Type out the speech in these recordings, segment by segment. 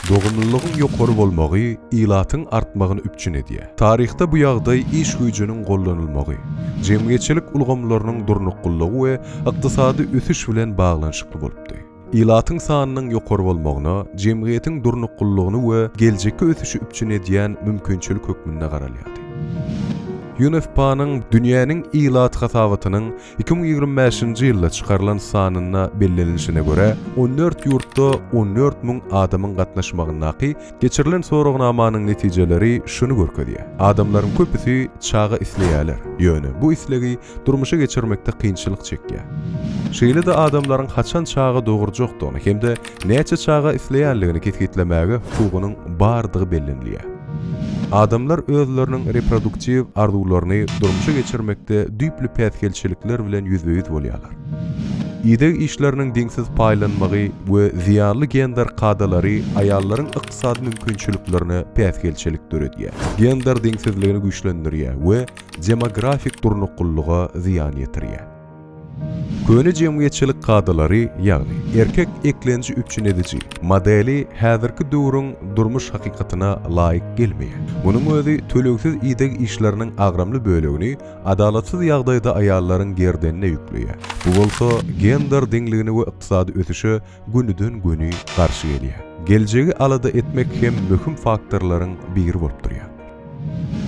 Dogumlylygyň ýokary bolmagy ilatyň artmagyny üpjün edýär. Taryhda bu ýagdaý iş güýjüniň gollanylmagy, jemgyýetçilik ulgamlarynyň durnuklylygy we ykdysady ösüş bilen baglanyşykly bolupdy. Ilatyň sanynyň ýokary bolmagyna jemgyýetiň durnuklylygyny we geljekki ösüşi üpjün edýän mümkinçilik hökmünde garalýardy. UNFPA-nyň Dünýäniň ilat hasabatynyň iki müň ýigrimi bäşinji ýylda çykarylan sanynda bellenilişine görä, on dört ýurtda on dört müň adamyň gatnaşmagyndaky geçirilen soragnamanyň netijeleri şuny görkezýär, adamlaryň köpüsi çaga isleýärler, ýöne bu islegi durmuşy geçirmekde kynçylyk çekýär. Şeýle-de adamlaryň haçan çaga dogurjakdygyny hem-de näçe çaga isleýänligini kesgitlemäge hukugynyň bardygy bellenilýär. Adamlar özleriniň reproduktiw arzuwlaryny durmuşa geçirmekde düýpli päsgelçilikler bilen ýüzbe-ýüz bolýarlar. Ideg işleriniň deňsiz paýlanmagy we zyýanly gender kadalary aýallaryň ykdysady mümkinçiliklerine päsgelçilik döredýär, gender deňsizligini güýçlendirýär we demografik durnuklylyga zyýan ýetirýär. Köne jemgyýetçilik kadalary, ýagny erkek eklenji üpjün ediji modeli häzirki döwrüň durmuş hakykatyna laýyk gelmeýär. Munuň özi tölegsiz ideg işleriniň agramly bölegini adalatsyz ýagdaýda aýallaryň gerdenine ýükleýär. Bu bolsa gender deňligine we ykdysady ösüşe gönüden-göni garşy gelýär. Geljegi alada etmek hem möhüm faktorlaryň biri bolup durýar.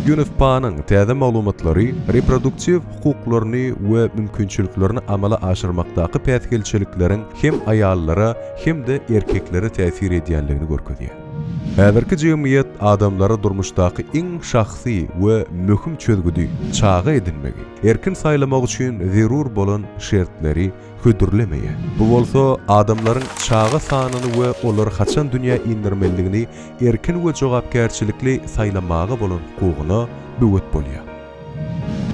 UNFPA-nyň täze maglumatlary reproduktiw hukuklaryny we mümkinçiliklerini amala aşyrmakdaky päsgelçilikleriň hem aýallara, hem-de erkeklere täsir edýändigini görkezýär. Häzirki jemgyýet adamlara durmuşdaky iň şahsy we möhüm çözgüdi, çaga edinmegi, erkin saýlamak üçin zerur bolan şertleri, hödürlemeýär. Bu bolsa adamlaryň çaga sanyny we olary haçan dünýä indirmelidigini erkin we jogapkärçilikli saýlamaga bolan hukugyna böwet bolýar.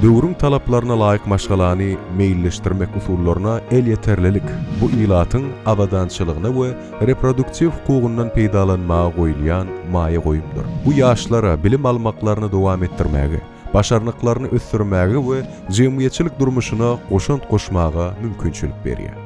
Döwrüň talaplaryna laýyk maşgalany meýilleşdirmek usullaryna elýeterlilik, bu ilatyň abadançylygyna we reproduktiw hukugyndan peýdalanmaga goýulýan maýa goýumdyr. Bu ýaşlara bilim almaklaryny dowam etdirmäge, başarnyklaryny ösdürmäge we jemgyýetçilik durmuşyna goşant goşmaga mümkinçilik berýär.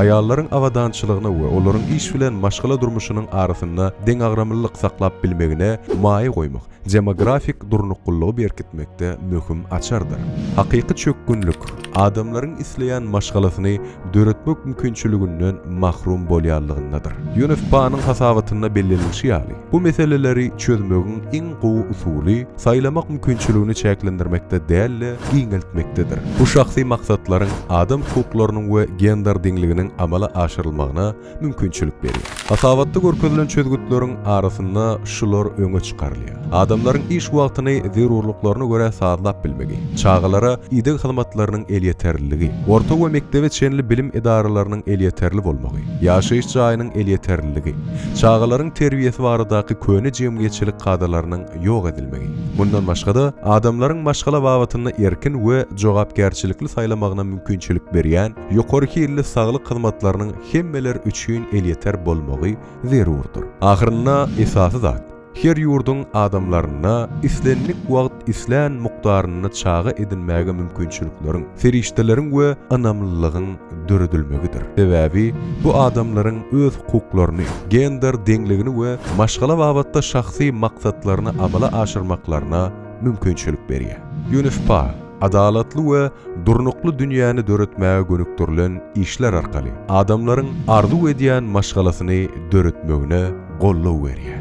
Aýallaryň abadançylygyny we olaryň iş bilen maşgala durmuşynyň arasynda deňagramlylyk saklap bilmegine maýa goýmak demografik durnuklylygy berkitmekde möhüm açardyr. Hakyky çökgünlik, adamlaryň isleýän maşgalasyny döretmek mümkinçiliginden mahrum bolýanlygyndadyr. UNFPA-nyň hasabatynda bellenilişi ýaly, bu meseleleri çözmegiň iň gowy usuly saýlamak mümkinçiligini çäklendirmekde däl-de, giňeltmekdedir. Bu şahsy maksatlaryň adam hukuklarynyň we gender deňliginiň amala aşyrylmagyna mümkinçilik berýär. Hasabatda görkezilen çözgütleriň arasynda şular öňe çykarylýar, adamlaryň iş wagtyny zerurlyklaryna görä sazlap bilmegi, çagalara ideg hyzmatlarynyň elýeterliligi, orta we mekdebe çenli bilim edaralarynyň elýeterli bolmagy, ýaşaýyş jaýynyň elýeterliligi, çagalaryň terbiýesi baradaky köne jemgyýetçilik kadalarynyň ýok edilmegi. Mundan başga-da, adamlaryň maşgala babatynda erkin we jogapkärçilikli saýlamagyna mümkinçilik berýän, ýokary hilli saglyk hyzmatlarynyň hemmeler üçin elýeter bolmagy zerurdyr. Ahyrynda esasy zat, her ýurduň adamlaryna islendik wagt islän mukdarynda çaga edinmäge mümkinçilikleriň, serişdeleriň we ynamlylygyň döredilmegidir. Sebäbi bu adamlaryň öz hukuklaryny, gender deňligini we maşgala babatda şahsy maksatlaryny amala aşyrmaklaryna mümkinçilik berýär. Ýunifpa. adalatly we durnukly dünýäni döretmäge gönükdirilen işler arkaly adamlaryň arzuw edýän maşgalasyny döretmegine goldaw berýär.